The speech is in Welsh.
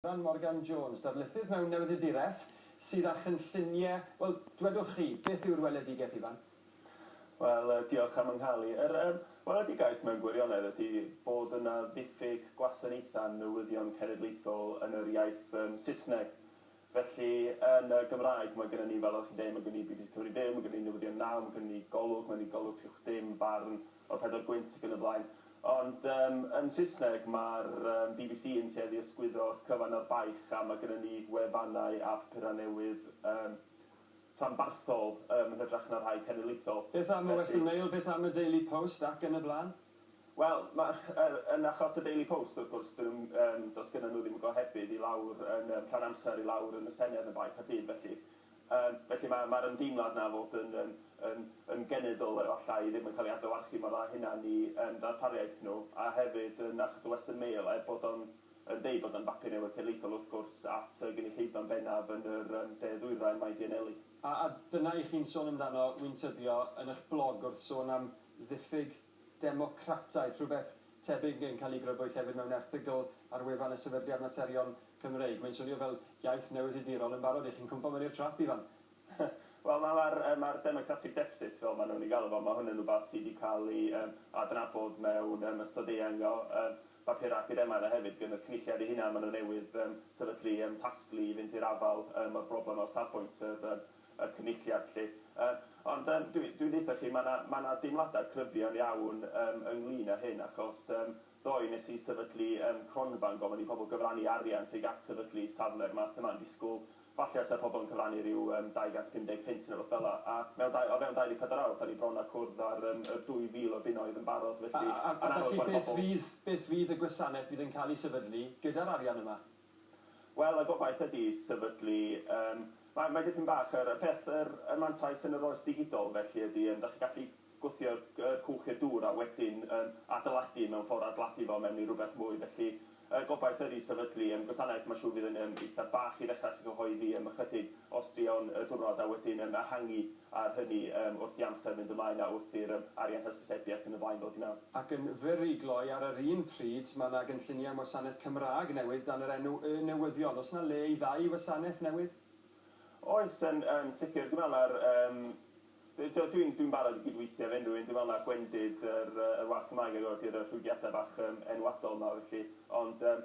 Rhan Morgan Jones, darlithydd mewn newyddiaduraeth, sydd â chynllunie, wel, dwedwch chi, beth yw'r weledigaeth, Ifan? Wel, diolch am fy nghael i. Yr weledigaeth mewn gwirionedd ydy bod yna ddiffyg gwasanaethau newyddion cenedlaethol yn yr iaith Saesneg. Felly, yn y Gymraeg, mae gennym ni, fel oeddech chi'n deud, mae gennym ni bbc Cymru Fyw, mae gennym ni Newyddion Naw, mae gennym ni Golwg, mae gennym ni Golwg Trwch Dim, Barn, o pedwar gwynt ac yn y blaen. Ond yym yn Saesneg mae'r yym bbc yn tueddu i ysgwyddo'r cyfan a'r baich a mae gynnon ni wefannau a papurau newydd yym rhanbarthol yym yn hytrach na rhai cenedlaethol. Beth am y Western Mail, beth am y Daily Post ac yn y blaen? Wel, ma' yy yn achos y Daily Post wrth gwrs 'dyn nhw'm yym does gynnon nhw ddim y gohebydd i lawr yn yym rhan amser i lawr yn y Senedd yn baich a dyn felly Yym, felly ma', ma'r ymdeimlad 'na o fod yn, yym, yn, yn genedl efallai ddim yn cael ei adlewyrchu mor dda â hynna'n eu, yym, darpariaeth nhw, a hefyd yn achos y Western Mail, er bod o'n, yn deud bod o'n bapur newydd cenedlaethol wrth gwrs, at y gynulleidfa'n bennaf yn yr, yym, de ddwyrain mae 'di anelu. A, a dyna i chi'n sôn amdano, wi'n tybio, yn 'ych blog wrth sôn am ddiffyg democrataeth, rhywbeth tebyg yn cael eu grybwyll hefyd mewn erthygl ar wefan y Sefydliad Materion Cymreig. Mae'n swnio fel iaith newyddiadurol yn barod i chi'n cwmpo mewn i'r trap, Ifan! Wel, mae'r mae'r democratic deficit, fel maen nhw'n ei galw fo, mae hwn yn rhywbeth sydd wedi cael ei yym adnabod mewn yym ystod eang o yym bapurau academaidd a hefyd gan y Cynulliad ei hunan, maen nhw newydd yym sefydlu yym tasglu i fynd i'r afael yym â'r broblem o safbwynt yr yym y Cynulliad 'lly. Yy ond yym dwi dwi'n deutha chi ma' 'na ma' 'na deimlada' cryfion iawn yym ynglŷn â hyn achos yym ddoe nes i sefydlu yym cronfa yn gofyn i pobl gyfrannu arian tuag at sefydlu safle'r math yma yn disgwl falle os 'sa pobl yn cyfrannu ryw yym 250 punt neu rywbeth fel 'na a mewn dau o fewn 24 awr 'dan ni bron â cwrdd â'r yym yr 2000 o bunnoedd yn barod felly ma'n amlwg bod pobl... A felly beth fydd beth fydd y gwasanaeth fydd yn cael ei sefydlu gyda'r arian yma? Wel, y gobaith ydi sefydlu yym mae mae dipyn bach yr y peth yr y mantais yn yr oes digidol felly ydi yym 'dach chi'n gallu gwthio'r g- yr cwch i'r dŵr a wedyn yym adeiladu mewn ffor adeiladu fo mewn i rwbeth mwy felly y gobaith ydi sefydlu yym gwasanaeth ma' siŵr fydd yn yym eitha bach i ddechra sy'n cyhoeddi yym ychydig o straeon y diwrnod a wedyn yym ehangu ar hynny yym wrth i amser fynd ymlaen a wrth i'r yym arian hysbysebu ac yn y blaen ddod i mewn. Ac yn fyr i gloi, ar yr un pryd, mae 'na gynlluniau am wasanaeth Cymraeg newydd dan yr enw Y Newyddion. Oes 'na le i ddau wasanaeth newydd? Oes, yn yn sicr. Dwi'n meddwl na'r yym d- t'o' dwi'n dwi'n barod i gydweithio efo unrhyw un. Dwi'n meddwl na gwendid yr yy yr wasg Gymraeg ag o ydi'r yy rhwygiadau bach yym enwadol 'ma felly. Ond yym